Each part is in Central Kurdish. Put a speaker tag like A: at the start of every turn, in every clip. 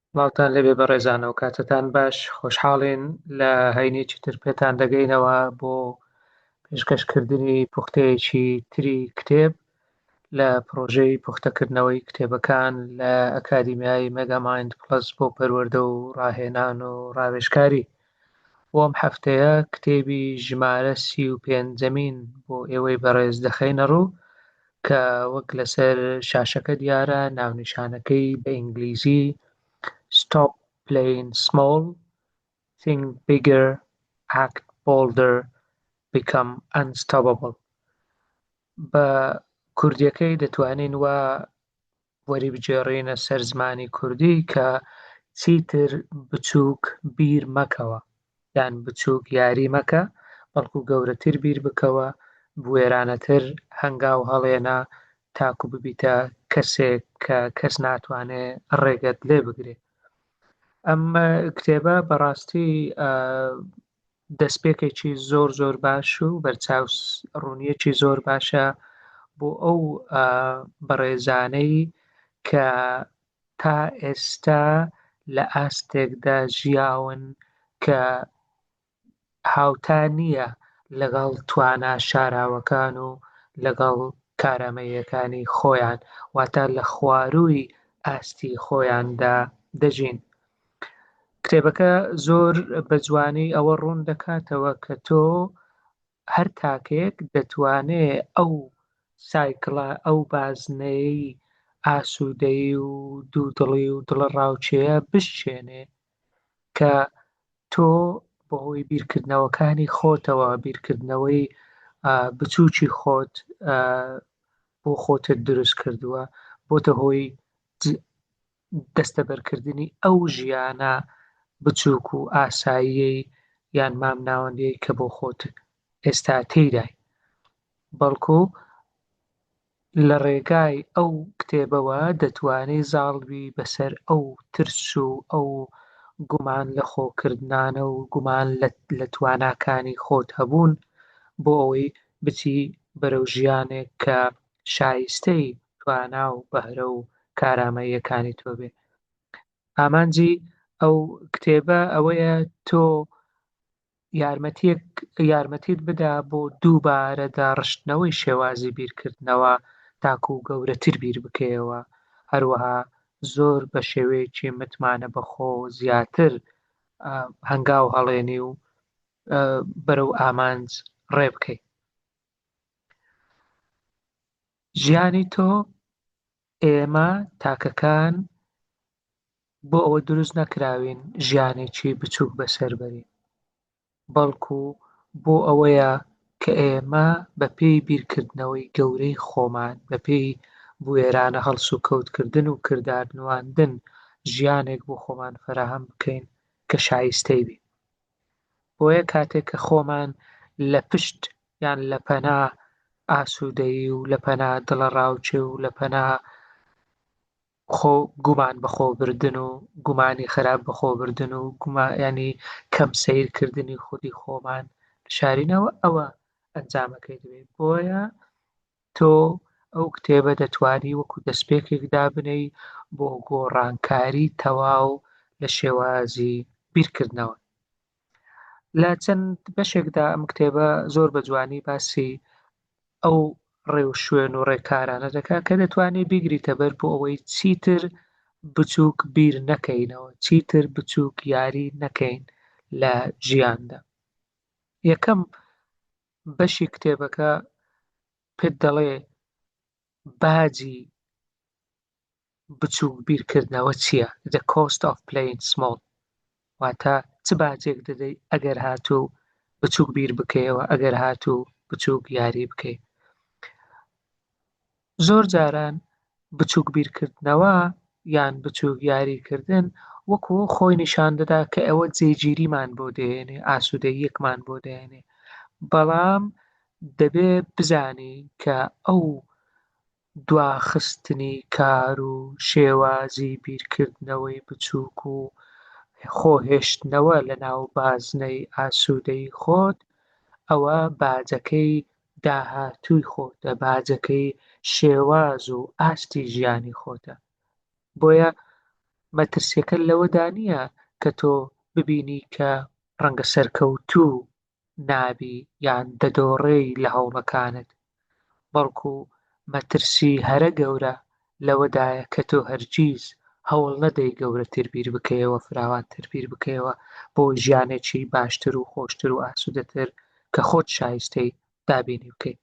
A: سڵاوتان لێبێ بەڕێزانەوە کاتتان باش خۆشحاڵین لە هەینێکی تر پێتان دەگەینەوە بۆ پێشکەشکردنی پوختەیەکی تری کتێب لە پرۆژەی پوختەکردنەوەی کتێبەکان لە ئەکادیمیای مەگامایند پلەس بۆ پەروەردە و ڕاهێنان و ڕاوێژکاری بۆ ئەم هەفتەیە کتێبی ژمارە سی و پێنجەمین بۆ ئێوەی بەڕێز دەخەینە ڕوو کە وەک لەسەر شاشەکە دیارە ناونیشانەکەی بە ئینگلیزی Stop Playing Small Think Bigger Act Bolder Become Unstoppable بە کوردیەکەی دەتوانین وا وەریبگێڕینە سەر زمانی کوردی کە چیتر بچووک بیر مەکەوە یان بچووک یاری مەکە بەڵکو گەورەتر بیر بکەوە بوێرانەتر هەنگاو هەڵێنە تاکو ببیتە کەسێک کە کەس ناتوانێ ڕێگەت لێ بگرێ ئەم کتێبە بەڕاستی دەستپێکێکی زۆر زۆر باش و بەرچاو ڕوونیەکی زۆر باشە بۆ ئەو بەڕێزانەی کە تا ئێستا لە ئاستێکدا ژیاون کە هاوتا نییە لەگەڵ توانا شاراوەکان و لەگەڵ کارامەییەکانی خۆیان واتە لە خوارووی ئاستی خۆیاندا دەژین. کتێبەکە زۆر بە جوانی ئەوە ڕوون دەکاتەوە کە تۆ هەر تاکێک دەتوانێ ئەو سایکڵە ئەو بازنەیەی ئاسوودەی و دوودڵی و دڵە ڕاوچەیە بشچێنێ کە تۆ بەهۆی بیرکردنەوەکانی خۆتەوە بیرکردنەوەی بچووکی خۆت بۆ خۆتت دروست کردووە بۆتە هۆی دەستەبەرکردنی ئەو ژیانە بچووک و ئاساییەی یان مامناوەندیەی کە بۆ خۆت ئێستا تێیدای بەڵکو لە ڕێگای ئەو کتێبەوە دەتوانێ زاڵبی بەسەر ئەو ترس و ئەو گومان لە خۆکردانە و گومان لە تواناکانی خۆت هەبوون بۆ ئەوەی بچی بەرەو ژیانێک کە شایستەی توانا و بەهرە و کارامەییەکانی تۆ بێ ئامانجی ئەو کتێبە ئەوەیە تۆ یارمەتیەک یارمەتیت بدا بۆ دووبارە داڕشتنەوەی شێوازی بیرکردنەوە تاکو و گەورەتر بیر بکەیەوە هەروەها زۆر بە شێوەیەکی متمانە بەخۆ زیاتر هەنگاو هەڵێنی و بەرەو ئامانج ڕێ بکەیت ژیانی تۆ ئێمە تاکەکان بۆ ئەوە دروست نەکراوین ژیانێکی بچووک بەسەربەرین بەڵکو بۆ ئەوەیە کە ئێمە بە پێی بیرکردنەوەی گەورەی خۆمان بە پێی بوێرانە هەڵس و کەوتکردن و کردار نواندن ژیانێک بۆ خۆمان فراهەم بکەین کە شایستەی بین بۆیە کاتێک کە خۆمان لە پشت یان لە پەنا ئاسوودەیی و لە پەنا دڵەڕاوکێ و لە پەنا خۆ گومان بەخۆبردن و گومانی خراپ بەخۆبردن و گومایانی کەم سیرکردنی خودی خۆمان شارینەوە ئەوە ئەنجامەکەی دەبێت بۆیە تۆ ئەو کتێبە دەتوانی وەکو دەستپێکێک دابنێی بۆ گۆڕانکاری تەواو لە شێوازی بیرکردنەوە. لە چەند بەشێکدا ئەم کتێبە زۆر بە جوانی باسی ئەو ڕێو شوێن و ڕێکارانە دەکات کە دەتوانێت بیگریتە بەر بۆ ئەوەی چیتر بچووک بیر نەکەینەوە چیتر بچووک یاری نەکەین لە ژیاندا یەکەم بەشی کتێبەکە پێت دەڵێ باجی بچووک بیرکردنەوە چییە The Cost of Playing Small واتە چ باجێک دەدەی ئەگەر هاتوو بچووک بیر بکەیەوە ئەگەر هاتوو بچووک یاری بکەیت زۆر جاران بچووک بیرکردنەوە یان بچووک یاریکردن وەکوو خۆی نیشان دەدا کە ئەوە جێگیریمان بۆ دێنێ، ئاسوودەییەکمان بۆ دێنێ. بەڵام دەبێ بزانی کە ئەو دواخستنی کار و شێوازی بیرکردنەوەی بچووک و خۆ هێشتنەوە لە ناو بازنەی ئاسوودەیی خۆت، ئەوە باجەکەی داهاتووی خۆتە، باجەکەی شێواز و ئاستی ژیانی خۆتە. بۆیە مەترسیەکە لەوەدا نییە کە تۆ ببینی کە ڕەنگە سەرکەوتوو نابی یان دەدۆڕێی لە هەوڵەکانت، بەڵکو مەترسی هەرە گەورە لەوەدایە کە تۆ هەرگیز هەوڵ نەدەی گەورەتر بیر بکەیەوە، فراوانتر بیر بکەیەوە بۆ ژیانێکی باشتر و خۆشتر و ئاسوودەتر کە خۆت شایستەی دابینی بکەیت.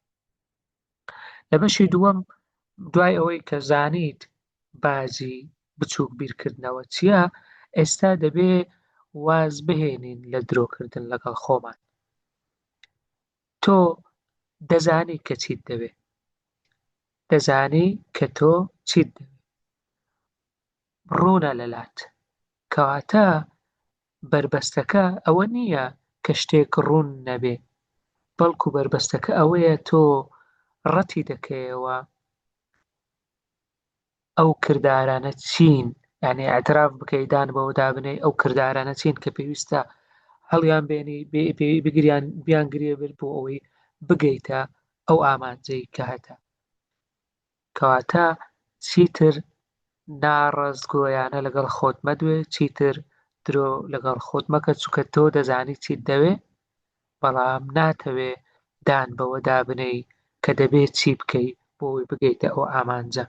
A: لە بەشی دووەم دوای ئەوەی کە زانیت بازی بچووک بیرکردنەوە چییە، ئێستا دەبێ واز بهێنین لە درۆکردن لەگەڵ خۆمان. تۆ دەزانی کە چیت دەوێ. دەزانی کە تۆ چیت دەوێ. ڕوونە لەلات. کەواتە بەربەستەکە ئەوە نییە کە شتێک ڕوون نەبێ، بەڵکو بەربەستەکە ئەوەیە تۆ ڕەتی دەکەیەوە، ئەو کردارانە چین یعنی ئەتراف بکەی دان بەوە دابنەی ئەو کردارانە چین کە پێویستە هەڵیان بێنی پێوی بگریان بیان گرێ بێت بۆ ئەوەی بگەیتە ئەو ئامانجەی کە هەتە کەواتە چیتر ناڕاستگۆیانە لەگەڵ خۆت مەدوێ چیتر درۆ لەگەڵ خۆت مەکە چووکە تۆ دەزانی چیت دەوێ بەڵام ناتەوێ دان بەوەدا بنێی کە دەبێ چی بکەی بۆ ئەوەی بگەیتە ئەو ئامانجە.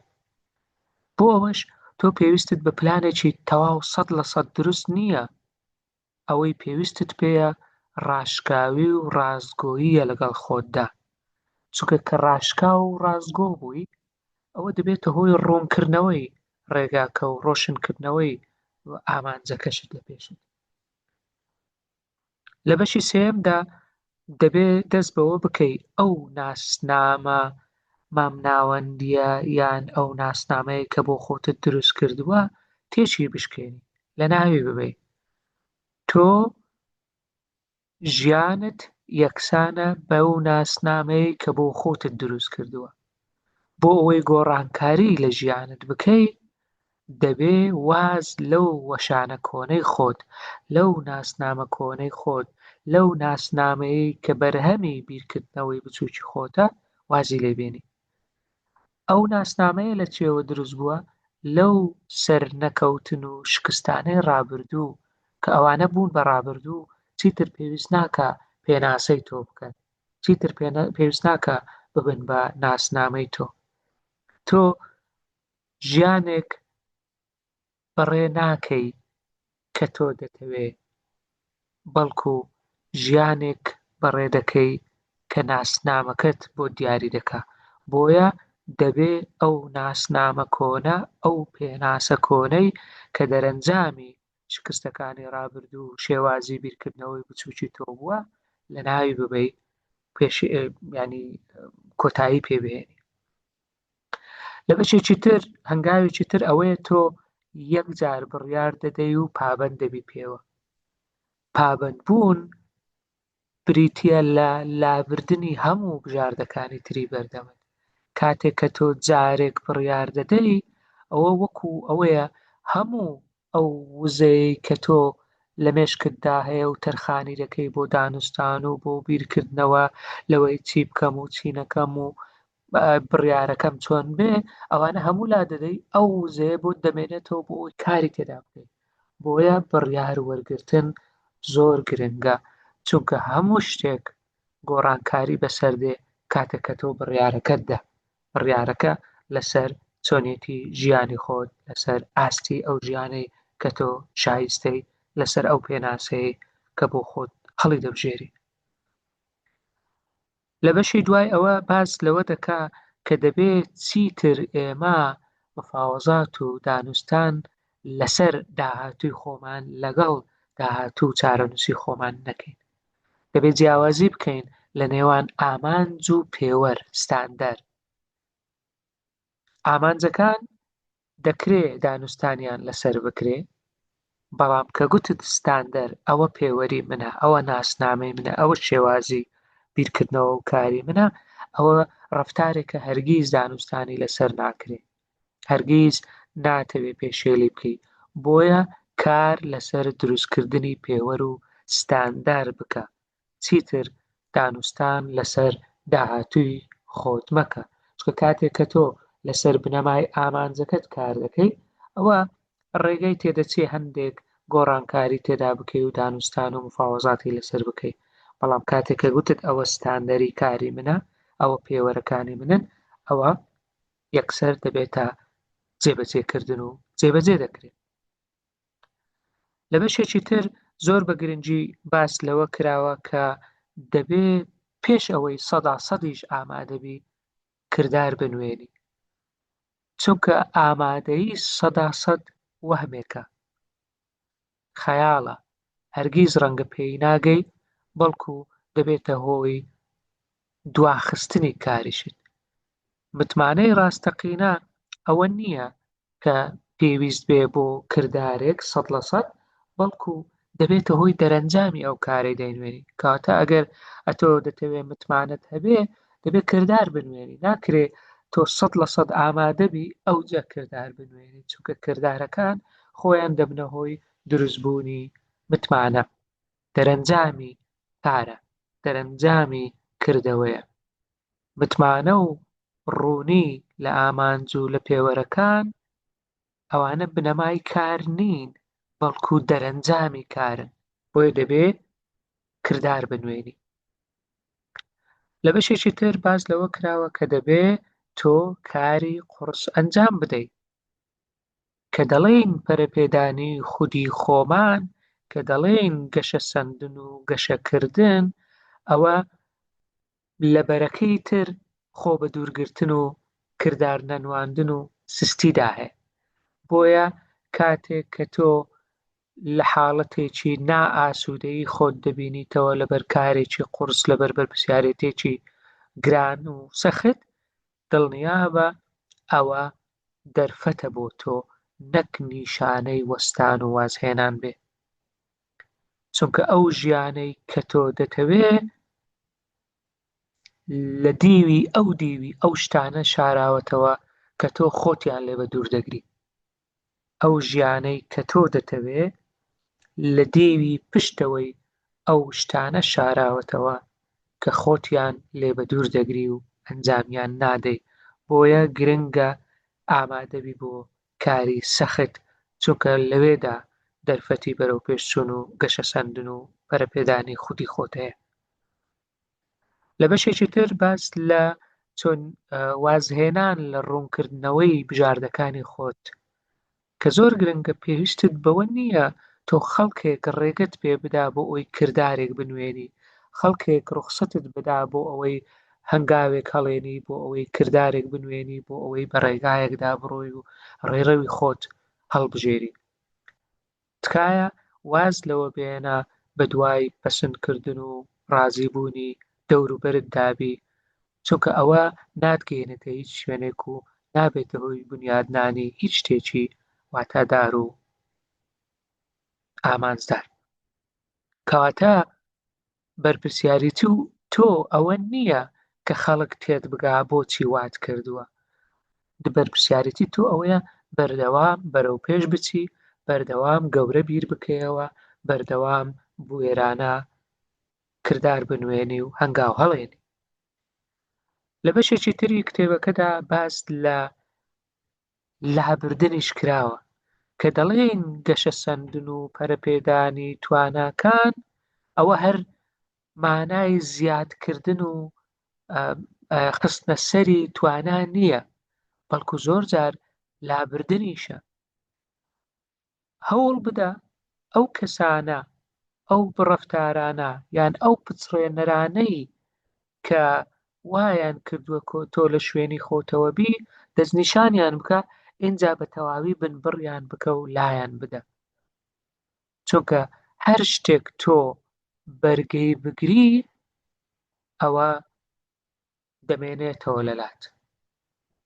A: بۆ ئەوەش تۆ پێویستت بە پلانێکی تەواو سەد لە سەد دروست نییە، ئەوەی پێویستت پێیە ڕاشکاوی و ڕاستگۆییە لەگەڵ خۆتدا، چونکە کە ڕاشکاو و ڕاستگۆ بووی ئەوە دەبێتە هۆی ڕوونکردنەوەی ڕێگاکە و ڕۆشنکردنەوەی ئامانجەکەشت لە پێشت. لە بەشی سێیەمدا دەبێ دەست بەوە بکەی ئەو ناسنامە مامناوەندیە یان ئەو ناسنامەیە کە بۆ خۆتت دروست کردووە تێچی بشکێنی لە ناوی ببەی تۆ ژیانت یەکسانە بەو ناسنامەیە کە بۆ خۆتت دروست کردووە بۆ ئەوەی گۆڕانکاری لە ژیانت بکەی دەبێ واز لەو وەشانە کۆنەی خۆت، لەو ناسنامە کۆنەی خۆت، لەو ناسنامەیەی کە بەرهەمی بیرکردنەوەی بچووکی خۆتە وازی لێ بێنی. ئەو ناسنامەیە لە چییەوە دروست بووە؟ لەو سەرنەکەوتن و شکستانەی ڕابردوو کە ئەوانە بوون بە ڕابردوو چیتر پێویست ناکا پێناسەی تۆ بکەن. چیتر پێویست ناکا ببن بە ناسنامەی تۆ تۆ ژیانێک بەڕێ ناکەی کە تۆ دەتەوێ بەڵکو ژیانێک بەڕێ دەکەی کە ناسنامەکەت بۆ دیاری دەکا بۆیە دەبێ ئەو ناسنامە کۆنە ئەو پێناسە کۆنەی کە دەرەنجامی شکستەکانی ڕابردوو و شێوازی بیرکردنەوەی بچووکی تۆ بووە لە ناوی ببەی پێش ینی کۆتایی پێبێنی لە بەشێکی تر هەنگاوێکی تر ئەوەیە تۆ یەک جار بڕیار دەدەی و پابند دەبی پێوە پابند بوون بریتییە لە لابردنی هەموو بژاردەکانی تری بەردەمت. کاتێک کە تۆ جارێک بڕیار دەدەی، ئەوە وەکو ئەوەیە هەموو ئەو وزەیەی کە تۆ لە مێشکتدا هەیە و تەرخانی دەکەی بۆ دانوستان و بۆ بیرکردنەوە لەوەی چی بکەم و چی نەکەم و بڕیارەکەم چۆن بێ ئەوانە هەموو لا دەدەی ئەو وزەیە بۆ دەمێنێتەوە بۆ ئەوی کاری تێدا بکەیت بۆیە بڕیار وەرگتن زۆر گرنگە چونکە هەموو شتێک گۆڕانکاری بەسەر دێ کاتێککە تۆ بڕیارەکەتدا بڕیارەکە لەسەر چۆنێتی ژیانی خۆت لەسەر ئاستی ئەو ژیانەی کە تۆ شایستەی لەسەر ئەو پێناسەیە کە بۆ خۆت هەڵی دەبژێری لە بەشی دوای ئەوە باس لەوە دەکا کە دەبێ چیتر ئێمە مفاوەزات و دانوستان لەسەر داهاتووی خۆمان لەگەڵ داهاتوو و چارەنووسی خۆمان نەکەین دەبێ جیاوازی بکەین لە نێوان ئامانج و پێوەر ستاندەر ئامانجەکان دەکرێ دانوستانیان لەسەر بکرێ بەڵام کە گوتت ستاندەر ئەوە پێوەری منە ئەوە ناسنامەی منە ئەوە شێوازی بیرکردنەوە و کاری منە ئەوە ڕفتارێکە هەرگیز دانوستانی لەسەر ناکرێ هەرگیز ناتەوێ پێشێلی بکەیت بۆیە کار لەسەر دروستکردنی پێوەر و ستاندار بکە چیتر دانوستان لەسەر داهاتووی خۆت مەکە، چونکە کاتێک کە تۆ لەسەر بنەمای ئامانجەکەت کار دەکەیت، ئەوە ڕێگەی تێدەچێت هەندێک گۆڕانکاری تێدا بکەیت و دانوستان و مفاوەزاتی لەسەر بکەیت، بەڵام کاتێک کە گوتت ئەوە ستاندەری کاری منە، ئەوە پێوەرەکانی منن، ئەوە یەکسەر دەبێتە جێبەجێکردن و جێبەجێ دەکرێت. لە بەشێکی تر زۆر بە گرنگی باس لەوە کراوە کە دەبێ پێش ئەوەی سەدا سەدیش ئامادەبی کردار بنوێنی چونکە ئامادەی سەدا سەد وەهمێکە خەیاڵە هەرگیز ڕەنگە پێی ناگەی بەڵکو دەبێتە هۆی دواخستنی کاریشت. متمانەی ڕاستەقینە ئەوە نییە کە پێویست بێ بۆ کردارێک سەد لە سەد، بەڵکو دەبێتە هۆی دەرەنجامی ئەو کارەی دەینوێنی. کەواتە ئەگەر ئەتۆ دەتەوێ متمانەت هەبێ، دەبێ کردار بنوێنی. ناکرێ تۆ سەد لە سەد ئامادە بی، ئەوجە کردار بنوێنی، چونکە کردارەکان خۆیان دەبنە هۆی دروستبوونی متمانە. دەرەنجامی کارە، دەرەنجامی کردەوەیە. متمانە و ڕوونی لە ئامانج و لە پێوەرەکان، ئەوانە بنەمای کار نین، بەڵکو دەرەنجامی کارن. بۆیە دەبێ کردار بنوێنی. لە بەشێکی تر باس لەوە کراوە کە دەبێ تۆ کاری قوڕس ئەنجام بدەی. کە دەڵێین پەرەپێدانی خودی خۆمان کە دەڵێین گەشەسەندن و گەشەکردن ئەوە لە بەرەکەی تر خۆ بە دوورگرتن و کردار نەنواندن و سستیدا هەیە بۆیە کاتێک کە تۆ لە حاڵەتێکی نائاسوودەیی خۆت دەبینیتەوە لەبەر کارێکی قورس لەبەر بەرپسیارێتێکی گران و سەخت دڵنیابە ئەوە دەرفەتە بۆ تۆ نەک نیشانەی وەستان و وازهێنان بێ، چونکە ئەو ژیانەی کە تۆ دەتەوێ لە دیوی ئەو دیوی ئەو شتانە شاراوەتەوە کە تۆ خۆتیان لێ بە دوور دەگری. ئەو ژیانەی کە تۆ دەتەوێ لە دێوی پشتەوەی ئەو شتانە شاراوەتەوە کە خۆتیان لێ بە دوور دەگری و ئەنجامیان نادەی بۆیە گرنگە ئامادەبی بۆ کاری سەخت چونکە لەوێدا دەرفەتی بەرەوپێشچوون و گەشەسەندن و پەرەپێدانی خودی خۆت هەیە لە بەشێکی تر باس لە چۆن وازهێنان لە ڕوونکردنەوەی بژاردەکانی خۆت کە زۆر گرنگە پێویستت بەوە نییە تۆ خەڵکێک ڕێگەت پێ بدا بۆ ئەوی کردارێک بنوێنی خەڵکێک ڕوخسەتت بدا بۆ ئەوەی هەنگاوێک هەڵێنی بۆ ئەوەی کردارێک بنوێنی بۆ ئەوەی بە ڕێگایەکدا بڕۆی و ڕێڕەوی خۆت هەڵبژێری تکایە واز لەوە بێنە بەدوای پەسند کردن و ڕازی بوونی دەوروبەرت دابی چونکە ئەوە ناتگەیەنێتە هیچ شوێنێک و نابێتە هۆی بنیادنانی هیچ شتێکی واتادار و ئامانجدار کەواتە بەرپرسیاریتی و تۆ ئەوە نییە کە خەڵک تێت بگا بۆچی وات کردووە بەرپرسیارەتی تۆ ئەوەیە بەردەوام بەرەو پێش بچی بەردەوام گەورە بیر بکەیەوە بەردەوام بوێرانە کردار بنوێنی و هەنگاو هەڵێنی لە بەشێکی تری کتێبەکەدا باس لە لابردنیش کراوە. کە دەڵێین گەشەسەندن و پەرەپێدانی تواناکان ئەوە هەر مانای زیادکردن و خستنە سەری توانا نییە، بەڵکو زۆر جار لابردنیشە. هەوڵ بدە ئەو کەسانە، ئەو بڕەفتارانە یان ئەو پچڕێنەرانەی کە وایان کردووە کۆ تۆ لە شوێنی خۆتەوە بی، دەستنیشانیان بکە، ئینجا بە تەواوی بنبڕیان بکە و لایان بدە. چونکە هەر شتێک تۆ بەرگەی بگری، ئەوە دەمێنێتەوە لە لات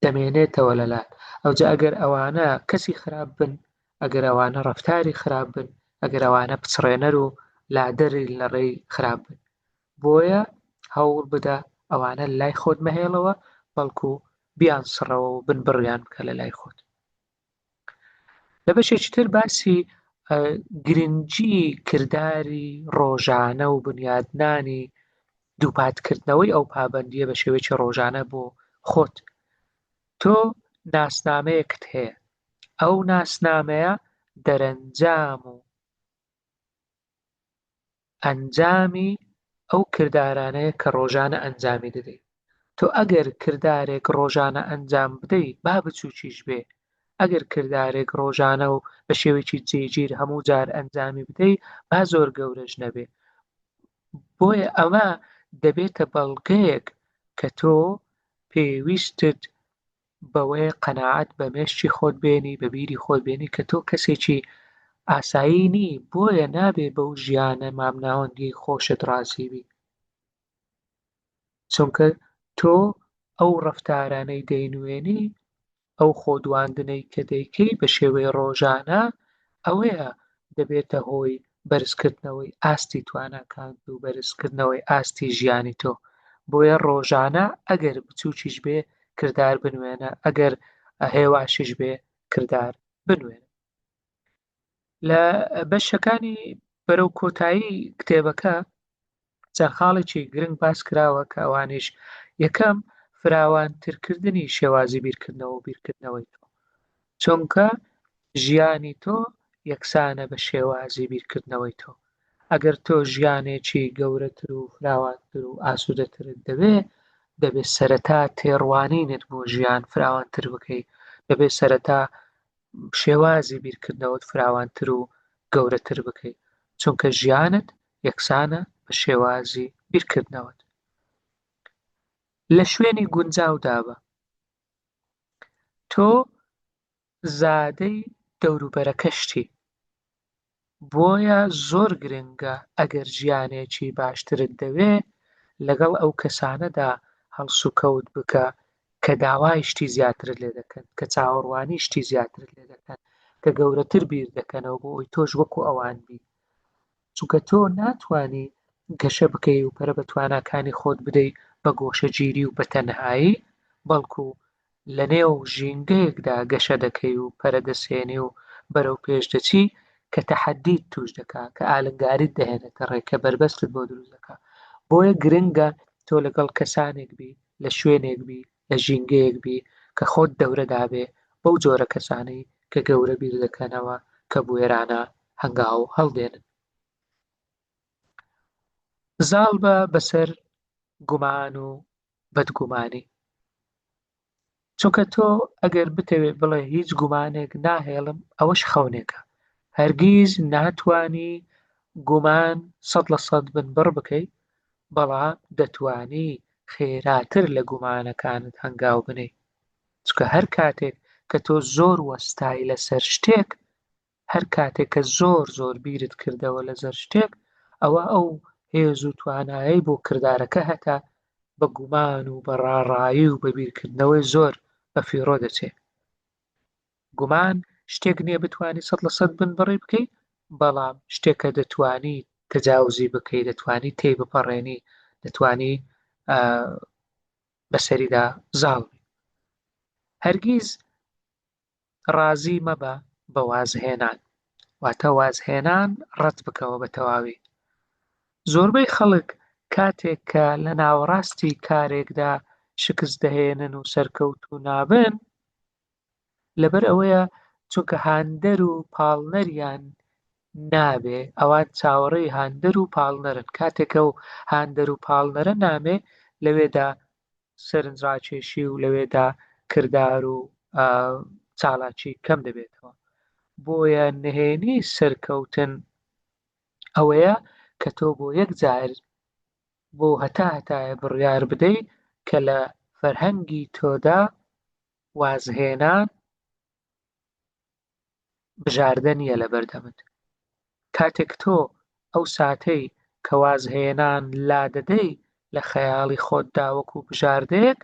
A: دەمێنێتەوە لە لات ئەوجا ئەگەر ئەوانە کەسی خراپ بن ئەگەر ئەوانە ڕفتاری خراپ بن ئەگەر ئەوانە پچڕێنەر و لادەری لە ڕێی خراپ بن بۆیە هەوڵ بدە ئەوانە لای خۆت مەهێڵەوە بەڵکو بیان سڕەوە و بن بڕیان بکە لە لای خۆت لە بەشێکی تر باسی گرنگی کرداری ڕۆژانە و بنیادنانی دووپاتکردنەوەی ئەو پابندیە بە شێوەیەکی ڕۆژانە بۆ خۆت تۆ ناسنامەیەکت هەیە ئەو ناسنامەیە دەرەنجام و ئەنجامی ئەو کردارانەیە کە ڕۆژانە ئەنجامی دەدەیت. تۆ ئەگەر کردارێک ڕۆژانە ئەنجام بدەی با بچووکیش بێ، ئەگەر کردارێک ڕۆژانە و بە شێوەیەکی جێگیر هەموو جار ئەنجامی بدەی با زۆر گەورەش نەبێ. بۆیە ئەمە دەبێتە بەڵگەیەک کە تۆ پێویستت بەوەیە قەناعەت بە مێشکی خۆت بێنی بە بیری خۆت بێنی کە تۆ کەسێکی ئاسایی نی بۆیە نابێ بەو ژیانە مامناوەندی خۆشت ڕازیبی چونکە تۆ ئەو ڕفتارانەی دەینوێنی ئەو خۆدواندنەی کە دەیکەی بە شێوەی ڕۆژانە ئەوەیە دەبێتە هۆی بەرزکردنەوەی ئاستی تواناکانت و بەرزکردنەوەی ئاستی ژیانی تۆ بۆیە ڕۆژانە ئەگەر بچووکیش بێ کردار بنوێنە ئەگەر هێواشیش بێ کردار بنوێنە لە بەشەکانی بەرەو کۆتایی کتێبەکە چەند خاڵێکی گرنگ باس کراوە کە ئەوانیش، یەکەم، فراوانترکردنی شێوازی بیرکردنەوە و بیرکردنەوەی تۆ، چونکە ژیانی تۆ یەکسانە بە شێوازی بیرکردنەوەی تۆ، ئەگەر تۆ ژیانێکی گەورەتر و فراوانتر و ئاسوودەترت دەوێ، دەبێ سەرەتا تێڕوانینت بۆ ژیان فراوانتر بکەی، دەبێ سەرەتا شێوازی بیرکردنەوەت فراوانتر و گەورەتر بکەی، چونکە ژیانت یەکسانە بە شێوازی بیرکردنەوەت. لە شوێنی گونجاودا بە. تۆ زادەی دەوروبەرەکەشتی، بۆیە زۆر گرنگە ئەگەر ژیانێکی باشترت دەوێ، لەگەڵ ئەو کەسانەدا هەڵسوکەوت بکە کە داوای شتی زیاترت لێ دەکەن، کە چاوەڕوانی شتی زیاترت لێ دەکەن، کە گەورەتر بیر دەکەنەوە بۆ ئەوەی تۆش وەکو ئەوان بی. چونکە تۆ ناتوانی گەشە بکەی و پەرە بە تواناکانی خۆت بدەی بە گۆشەگیری و بە تەنهایی، بەڵکو لە نێو ژینگەیەکدا گەشە دەکەی و پەرە دەسێنی و بەرەو پێش دەچی کە تەحەدیت توش دەکا، کە ئالنگاریت دەهێنێتە ڕێ، کە بەربەستت بۆ دروست دەکا. بۆیە گرنگە تۆ لەگەڵ کەسانێک بی، لە شوێنێک بی، لە ژینگەیەک بی کە خۆت دەورە دابێ بەو جۆرە کەسانەی کە گەورە بیر دەکەنەوە کە بوێرانە هەنگاو هەڵدێنن. زاڵ بە بەسەر گومان و بەدگومانی. چونکە تۆ ئەگەر بتەوێ بڵێ هیچ گومانێک ناهێڵم ئەوەش خەونێکە هەرگیز ناتوانی گومان سەد لە سەد بن بڕ بکەی بەڵام دەتوانی خێراتر لە گومانەکانت هەنگاو بنێی چونکە هەر کاتێک کە تۆ زۆر وەستای لەسەر شتێک هەر کاتێک کە زۆر زۆر بیرت کردەوە لەسەر شتێک ئەوە ئەو هێز و توانایی بۆ کردارەکە هەتا بە گومان و بە ڕاڕایی و بە بیرکردنەوەی زۆر بە فیڕۆ دەچێت گومان شتێک نیە بتوانی سەد لە سەد بنبڕی بکەی بەڵام شتێک کە دەتوانی تەجاوزی بکەی دەتوانی تێی بپەڕێنی دەتوانی بەسەریدا زاڵ هەرگیز ڕازی مەبە بە وازهێنان واتە وازهێنان ڕەت بکەوە بە تەواوی زۆربەی خەڵک کاتێک کە لە ناوەڕاستی کارێکدا شکست دەهێنن و سەرکەوت و نابن لەبەر ئەوەیە چونکە هاندەر و پاڵنەریان نابێ ئەوان چاوەڕێی هاندەر و پاڵنەرن کاتێکە و هاندەر و پاڵنەرە نامێ لەوێدا سەرنجڕاکێشی و لەوێدا کردار و چالاکی کەم دەبێتەوە بۆیە نهێنی سەرکەوتن ئەوەیە کە تۆ بۆ یەک جار بۆ هەتا هەتایە بڕیار بدەی کە لە فەرهەنگی تۆدا وازهێنان بژاردە نییە لەبەردەمت کاتێک تۆ ئەو ساتەی کە وازهێنان لادەدەی لە خەیاڵی خۆتدا وەکو بژاردەیەک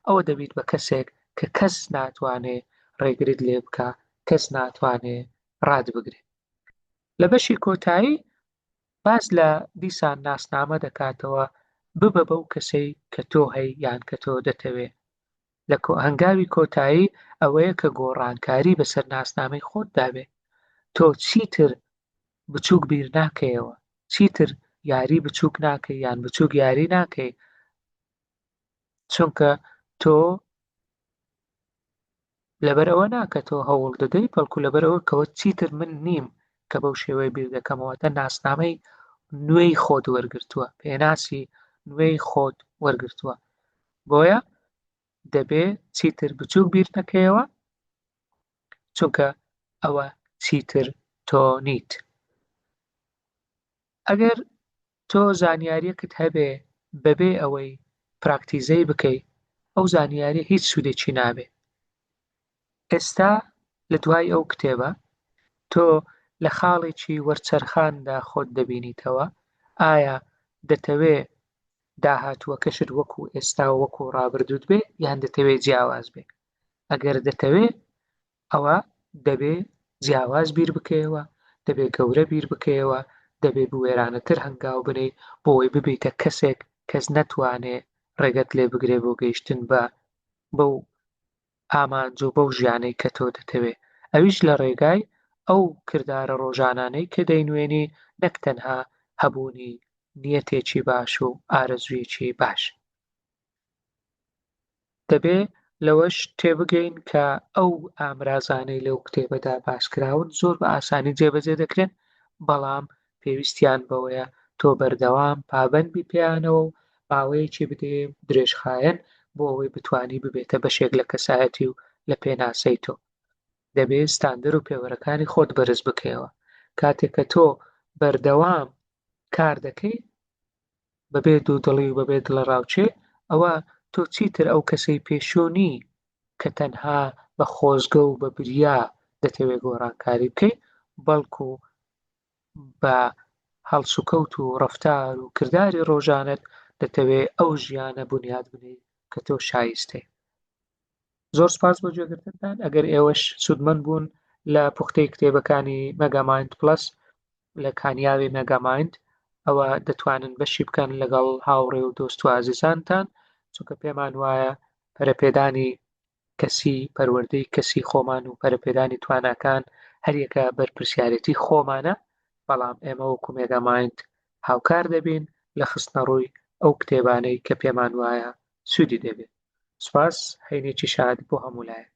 A: ئەوە دەبیت بە کەسێک کە کەس ناتوانێ ڕێگرت لێ بکە کەس ناتوانێ ڕات بگرێت لە بەشی کۆتایی باس لە دیسان ناسنامە دەکاتەوە، ببە بەو کەسەی کە تۆ هەی یان کە تۆ دەتەوێ. لە کۆ هەنگاوی کۆتایی ئەوەیە کە گۆڕانکاری بەسەر ناسنامەی خۆت دابێ. تۆ چیتر بچووک بیر ناکەیەوە، چیتر یاری بچووک ناکەی یان بچووک یاری ناکەی چونکە تۆ لەبەر ئەوە نا کە تۆ هەوڵ دەدەیت بەڵکو لەبەر ئەوە کەەوە چیتر من نیم کە بەو شێوەیە بیر دەکەمەوە تە ناسنامەی نوێی خۆت وەرگتووە پێناسی نوێی خۆت وەرگتووە بۆیە دەبێ چیتر بچوو بیر نەکەیەوە چونکە ئەوە چیتر تۆ نیت ئەگەر تۆ زانیاریەکت هەبێ بەبێ ئەوەی پراکتیزەی بکەی ئەو زانیاریە هیچ سودێکی نابێ ئێستا لە دوای ئەو کتێبە تۆ لە خاڵێکی وەرچەرخاندا خۆت دەبینیتەوە ئایا دەتەوێ داهاتووەکەشت وەکو ئێستا وەکو ڕابردوت بێ یان دەتەوێ جیاواز بێ ئەگەر دەتەوێ ئەوا دەبێ جیاواز بیر بکەیەوە، دەبێ گەورە بیر بکەیەوە، دەبێ بوێرانەتر هەنگاو بنێی بۆ ئەوەی ببیتە کەسێک کەس نەتوانێ ڕێگەت لێ بگرێ بۆ گەیشتن بە بەو ئامانج و بەو ژیانەی کە تۆ دەتەوێ ئەویش لە ڕێگای ئەو کردارە ڕۆژانانەی کە دەینوێنی نەک تەنها هەبوونی نیەتێکی باش و ئارەزوویەکی باش. دەبێ لەوەش تێبگەین کە ئەو ئامرازانەی لەو کتێبەدا باس کراون زۆر بە ئاسانی جێبەجێ دەکرێن بەڵام پێویستیان بەوەیە تۆ بەردەوام پابەند بی پێیانەوە و ماوەیەکی بدێ درێژخایەن بۆ ئەوەی بتانی ببێتە بەشێک لە کەسایەتی و لە پێناسەی تۆ دەبێ ستاندەر و پێوەرەکانی خۆت بەرز بکەیەوە کاتێک کە تۆ بەردەوام کار دەکەی بەبێ دوودڵی و بەبێ دڵەڕاوکێ، ئەوە تۆ چیتر ئەو کەسەی پێشوو نی کە تەنها بە خۆزگە و بە بریا دەتەوێ گۆڕانکاری بکەی، بەڵکو بە هەڵسوکەوت و ڕەفتار و کرداری ڕۆژانەت دەتەوێ ئەو ژیانە بونیاد بنێی کە تۆ شایستەی. زۆر سپاس بۆ جێگرتنتان ئەگەر ئێوەش سوودمەند بوون لە پوختەی کتێبەکانی مەگامایند پلس لە کانیاوی مەگامایند ئەوە دەتوانن بەشی بکەن لەگەڵ هاوڕێ و دۆست و ئازیزانتان چونکە پێمان وایە پەرەپێدانی کەسی پەروەردەی کەسی خۆمان و پەرەپێدانی تواناکان هەریەکە بەرپرسیارەتی خۆمانە بەڵام ئێمە وەکو مێگامایند هاوکار دەبین لە خستنە ڕووی ئەو کتێبانەی کە پێمان وایە سوودی دەبێت سوپاس هەینێکی شاد بۆ هەموو لایەک